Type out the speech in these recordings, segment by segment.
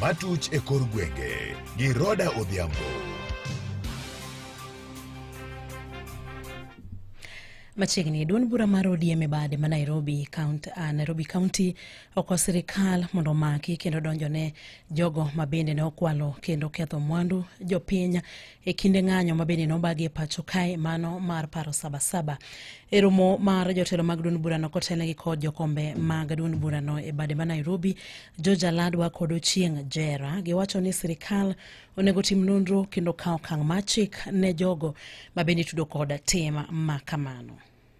Matuch e kor gwenge gi Roda Odhiambo. Machiegni duond bura mar ODM e bade ma Nairobi County, uh, Nairobi County oko sirikal mondo omaki kendo donjone jogo ma bende ne okwalo kendo ketho mwandu jopiny e kinde ng'anyo ma bende nobagi e pacho kae mano mar paro sabasaba e romo mar jotelo mag duond burano kotelnegi kod jokombe mag duond burano e bade ma nairobi georgia ladwa kod ochieng' jera giwacho ni sirikal onego tim nonro kendo kawo okang' mar chik ne jogo ma bende itudo kod tim ma kamano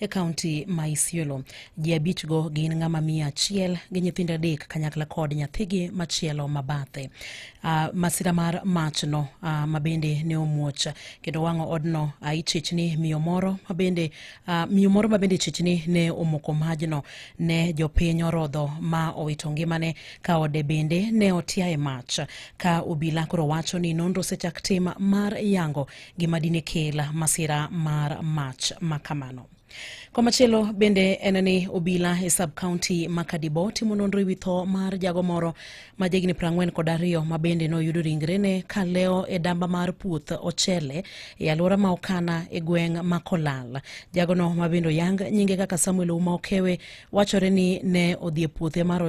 e kaunti ma Isiolo. Ji abichgo gin ng'ama miyo achiel gi nyithindo adek kanyakla kod nyathigi machielo mabathe. Uh, ah, masira mar machno uh, ah, mabende ne omuoch kendo wang'o odno uh, ah, ichichni miyo moro mabende uh, miyo moro mabende ichichni ne omoko majno ne jopiny orodho ma owito ngimane ka ode bende ne otiaye mach ka obila koro wacho ni nonro osechak tim mar yango gima dine kel masira mar mach ma kamano. Komachielo bende en ni obila e sub county ma Kadibo timo nonro e wi tho mar jago moro ma jahigni 40 kod ariyo ma bende noyudo ringrene ka leo e damba mar puoth ochele e alwora ma Okana e gweng' ma Kolal. Jagono ma bende oyang nyinge kaka Samuel Uma Okewe wachore ni ne odhi e puothe mar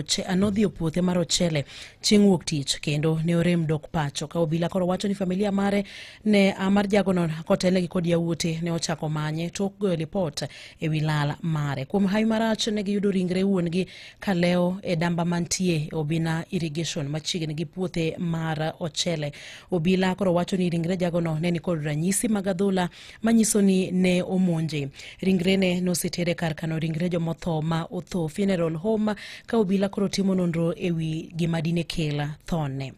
ochele chieng' wuok tich kendo ne orem dok pacho ka obila koro wacho ni familia mare ne ah, mar jagono kotelnegi kod yawuote ne ochako manye tok goyo lipot e wi lal mare kuom hawi marach ne giyudo ringre wuon-gi ka lewo e damba mantie e obina irrigation machiegni gi puothe mar ochele obila koro wacho ni ringre jagono ne nikod ranyisi mag adhola manyiso ni ne omonje. Ringrene nosetere kar kano ringre jomotho ma otho funeral home ka obila koro timo nonro e wi gima dine kela thone.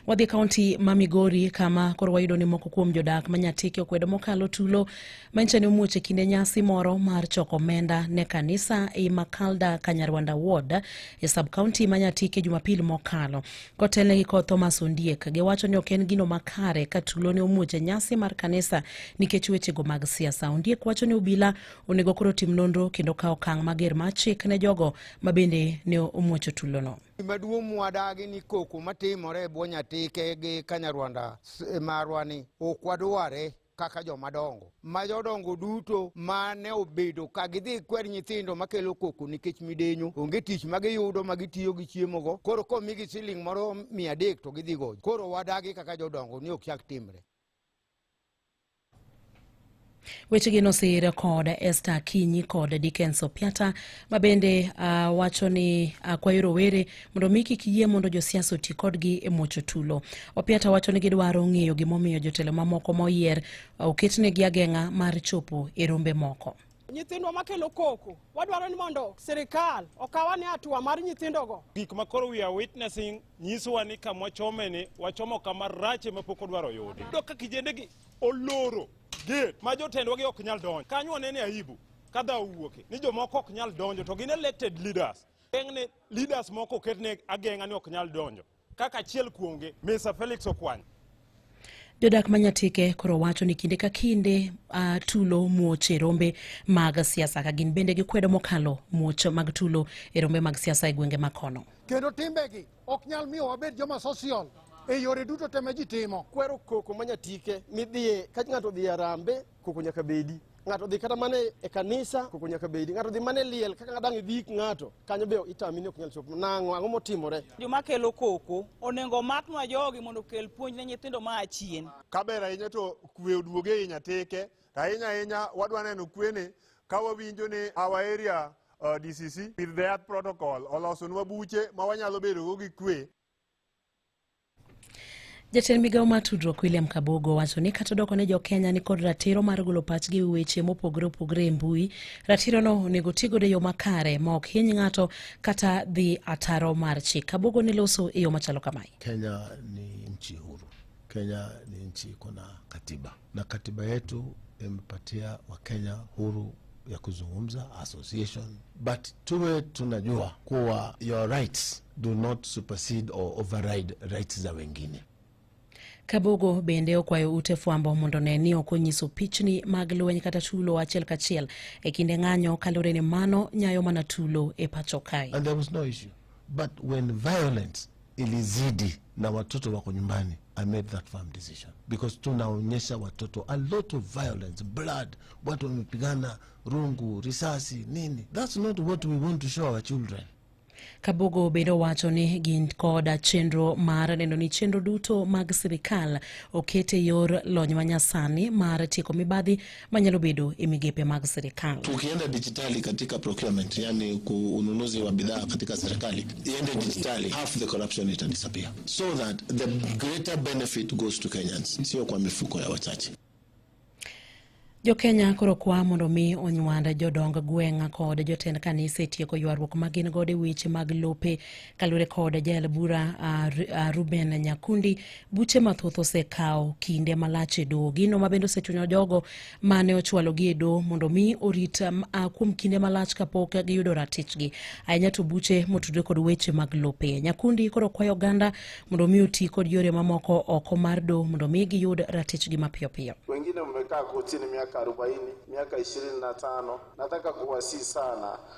Wadhi kaunti ma Migori kama koro wayudo ni moko kuom jodak ma Nyatike okwedo mokalo tulo manyiso ni omuoch e kinde nyasi moro mar choko omenda ne kanisa e Makalda Kanyarwanda Ward e sub kaunti ma Nyatike Jumapil mokalo. kotelne gi kod Thomas Ondiek. Giwacho ni ok en gino makare ka tulo ne omuoch e nyasi mar kanisa nikech wechego mag siasa. Ondiek wacho ni obila onego koro tim nonro kendo kawo okang' mager mar chik ne jogo ma bende ne omuocho tulono. Gimaduong' mwadagi ni koko matimore e bwo nyatike gi kanyarwanda marwani ok wadware kaka joma dongo ma jodongo duto ma ne obedo ka gidhi kwer nyithindo makelo koko nikech midenyo onge tich ma giyudo ma gitiyo gi chiemogo koro komigi siling moro mia adek to gidhi gojo koro wadagi kaka jodongo ni ok chak timre Wechegi nosir kod Esther Kinyi kod Dickens Opiata ma bende uh, wacho ni akwayo uh, rowere mondo mi kik yie mondo josiasa oti kodgi e muocho tulo. Opiata wacho ni gidwaro ng'eyo gimomiyo jotelo mamoko moyier uh, oketnegi ageng'a mar chopo e rombe moko. nyithindwa makelo koko wadwaro ni mondo sirikal okawa ne atua mar nyithindogo gik ma koro we are witnessing nyisowa ni kama wachome ni wachomo kama rache ma pok odwaro yudi do ka kijendegi oloro gate ma jotendwa gi ok nyal donjo kanyo wanene aibu ka dha owuoke ni jomoko ok nyal donjo to gin elected leaders geng'ne leaders moko oketne ageng'a ni ok nyal donjo kaka achiel kuomgi Mr. Felix Okwany. Jodak ma Nyatike koro wacho ni kinde ka kinde uh, tulo muoch e rombe mag siasa ka gin bende gikwedo mokalo muoch mag tulo e rombe mag siasa e gwenge makono. Kendo timbegi ok nyal miyo wabed joma social e yore duto te ma ji timo. Kwero koko ma Nyatike midhiye ka ng'ato odhi e Arambe Koko nyaka bedi. Ng'ato dhi kata mana e kanisa, koko nyaka bedi. Ng'ato dhi mana e liel, kaka dang' idhi ik ng'ato, kanyo be itami ni ok nyal chopo. Nang'o? Ang'o motimore? Joma kelo koko, onego omaknwa jogi mondo okel puonj ne nyithindo ma a chien. Kaber ahinya to kwe oduoge ei Nyatike, to ahinya ahinya wadwa neno kwene ka wawinjo ni our area uh, DCC with the earth protocol olosonwa buche ma wanyalo bedogo gi kwe. Jatend migawo mar tudruok William Kabogo wacho ni kata odoko ni jo Kenya ni kod ratiro mar golo pachgi e weche mopogore opogore e mbui, ratirono onego ti godo e yo makare ma ok hiny ng'ato kata dhi ataro mar chik. Kabogo ne loso e yo machalo kamae. Kenya ni nchi huru. Kenya ni nchi iko na katiba. na katiba yetu imepatia Wakenya huru ya kuzungumza association, but tuwe tunajua kuwa your rights do not supersede or override rights za wengine. Kabogo bende okwayo ute fwambo mondo ne ni ok onyiso pichni mag lweny kata tulo achiel kachiel e kinde ng'anyo kalure ni mano nyayo mana tulo e pacho kae. And there was no issue. But when violence ilizidi na watoto wako nyumbani. I made that firm decision because tunaonyesha watoto a lot of violence, blood, watu wamepigana, rungu, risasi, nini. That's not what we want to show our children. Kabogo bende owacho ni gin koda chenro mar neno ni chenro duto mag sirikal oket e yor lony manyasani mar tieko mibadhi manyalo bedo e migepe mag serikali. Tukienda dijitali katika procurement, yani ununuzi wa bidhaa katika serikali iende dijitali, half the corruption ita disappear so that the greater benefit goes to Kenyans, sio kwa mifuko ya wachache. Jokenya koro kwa mondo mi onywand jodong gweng' kod jotend kanisa e tieko ywaruok ma gin godo e weche mag lope kaluwore kod jael bura Ruben Nyakundi buche mathoth osekawo kinde malach e doho. Gino ma bende osechunyo jogo mane ochwalogi e doho mondo mi orit um, kuom kinde malach kapok giyudo ratichgi. Ahinya to buche motudre kod weche mag lope. Nyakundi koro kwayo oganda mondo mi oti kod yore mamoko oko mar doho mondo mi giyud ratichgi mapiyo piyo. Wengine mmekaa kotini miaka 40, miaka 25. Nataka kuwasihi sana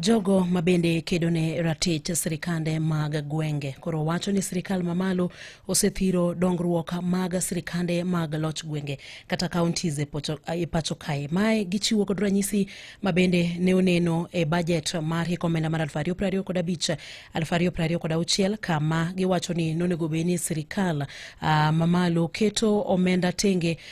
Jogo ma bende kedo ne ratich sirikande mag gwenge koro wacho ni sirikal mamalo osethiro dongruok mag sirikande mag loch gwenge kata counties e, e pacho kae. Mae gichiwo kod ranyisi ma bende ne oneno e bajet mar hik omenda mar 2025 kod 2026 kod auchiel kama giwacho ni nonego bed ni sirikal uh, mamalo keto omenda tenge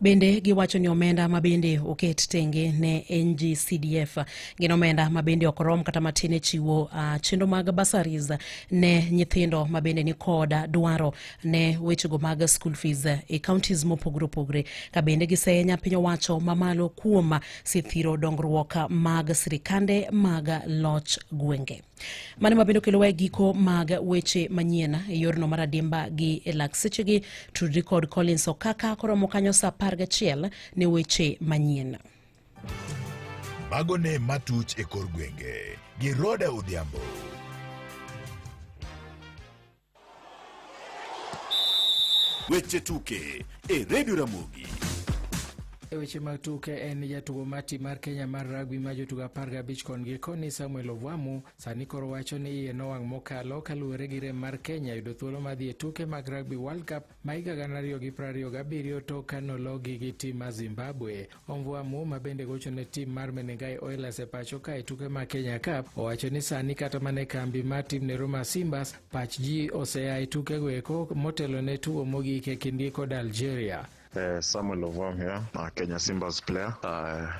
Bende giwacho ni omenda ma bende oket tenge ne NGCDF gin omenda ma bende ok rom kata matin e chiwo uh, chenro mag basaris ne nyithindo ma bende ni kod dwaro ne wechego mag school fees e counties mopogore opogore ka bende gisenya piny owacho mamalo kuom sithiro dongruok mag sirikande mag loch gwenge. Mano ma bende okelowa e giko mag weche manyien e yorno mar adimba gi e lak sechegi. Tudri kod Collins Okaka koromo kanyo sa apar gachiel ne weche manyien. Mago ne matuch e kor gwenge gi Roda Odhiambo. Weche tuke e redio Ramogi. E weche mag tuke en jatugo mar tim mar Kenya mar rugby ma jotugo apar gabich kon gi koni Samuel Ovwamu sani koro wacho ni iye nowang' mokalo kaluwore gi rem mar Kenya yudo thuolo mar dhi e tuke mag Rugby World Cup Ma higa gana ariyo gi piero ariyo gabiriyo tok ka nologi gi tim mar Zimbabwe. Omvua Mu ma bende gocho ne tim mar Menengai Oilers e pacho ka e tuke mar Kenya Cup owacho ni sani kata mana e kambi mar tim ne Roma Simbas pach ji osea e tukego eko motelo ne tugo mogik e kindgi kod Algeria. Uh, Samuel Ovom here, uh, Kenya Simbas player. Uh,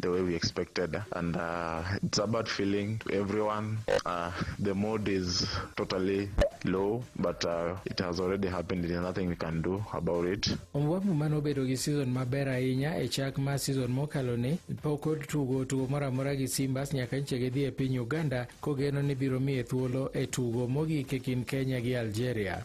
the way we expected and uh, it's a bad feeling to everyone uh, the mood is totally low but uh, it has already happened there's nothing we can do about it Ombwamu mane obedo gi season maber ahinya e chak mar season mokalo ni pok otugo tugo moro amora gi Simbas nyaka nyiche gidhi e piny Uganda kogeno ni biro miye thuolo e tugo mogik e kind Kenya gi Algeria.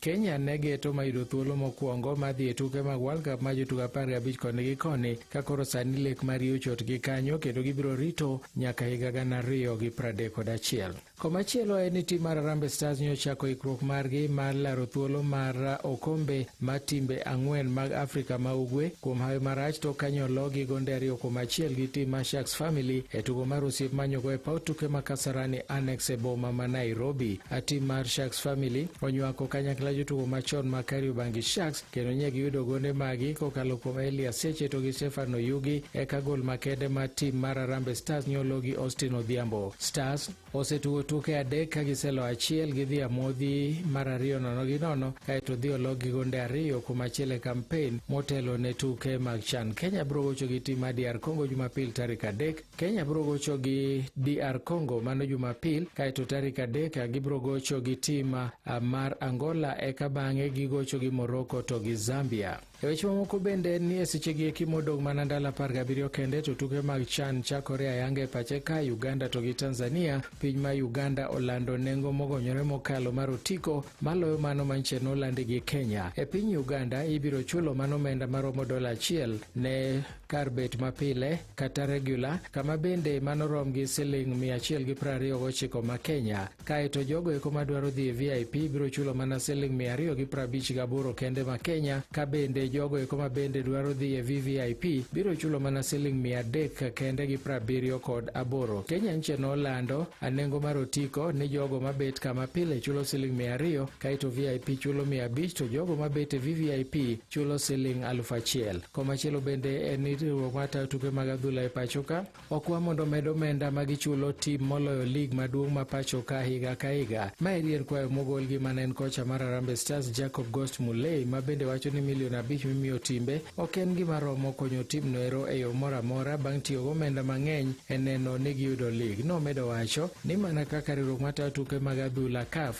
Kenya ne geto mayudo thuolo mokwongo ma dhi e tuke mag World Cup ma jotugo apar gi abich koni gi koni ka koro sani lek mar ochot gi kanyo kendo gibiro rito nyaka higa gana ariyo gi pradek kod achiel. Komachielo en ni tim mar Harambee Stars nyo chako ikruok margi mar laro thuolo mar okombe ma timbe ang'wen mag Afrika ma Ugwe kuom hawi marach to kanyo logi gonde ariyo kuom achiel gi tim mar Sharks Family e tugo mar osiep manyogo e paw tuke ma Kasarani Annex e boma ma Nairobi. A tim mar Sharks Family onywako kanyakla jotugo machon ma Kariobangi Sharks kendo nye giyudo gonde magi kokalo kuom Elia Seche to gi Stefano Yugi eka gol makende ma tim mar Arambe Stars nyolo gi Austin Odhiambo. Stars osetugo tuke adek ka giselo achiel gidhi amodhi mar ariyo nono gi nono kaeto dhi olog gi gonde ariyo kuom achiel e kampen motelo ne tuke mag CHAN. Kenya biro gocho gi tim mar DR Congo Jumapil tarik adek Kenya biro gocho gi DR Congo mano Jumapil, kaeto tarik adek gibiro gocho gi tim ah, mar Angola, eka bang'e gigocho gi Morocco to gi Zambia. E weche mamoko bende ni e sechegi eki modong' mana ndalo apar gabiriyo kende to tuke mag CHAN chakore ayanga e pache ka Uganda to gi Tanzania. Piny ma Uganda olando nengo mogonyore mokalo mar otiko maloyo mano manche nolandi gi Kenya. E piny Uganda ibiro chulo mano omenda maromo dola achiel ne kar bet mapile kata regular kama bende mano rom gi siling 129 ma Kenya kaeto jogo eko madwaro dhi e VIP biro chulo mana siling 258 kende ma Kenya ka bende jogo eko ma bende dwaro dhi e VVIP biro chulo mana siling 300 kende gi 70 kod aboro Kenya nche nolando anengo mar otiko ni jogo mabet kama pile chulo siling 200 kaeto VIP chulo 500 to jogo mabet e VVIP chulo siling aluf achiel. Komachielo bende en ni riwruok mar tayo tuke mag adhula e pachoka okwa mondo omed omenda ma gichulo tim moloyo lig maduong' ma pachoka higa ka higa. Ma eri en kwayo mogol gi mane en kocha mar Harambee Stars Jacob Ghost Mulee ma bende wacho ni milion abich mimiyo timbe ok en gima romo konyo tim noero e yo moro amora bang' tiyo gomenda mang'eny e neno ni giyudo lig. Nomedo wacho ni mana kaka riwruok mar tayo tuke mag adhula CAF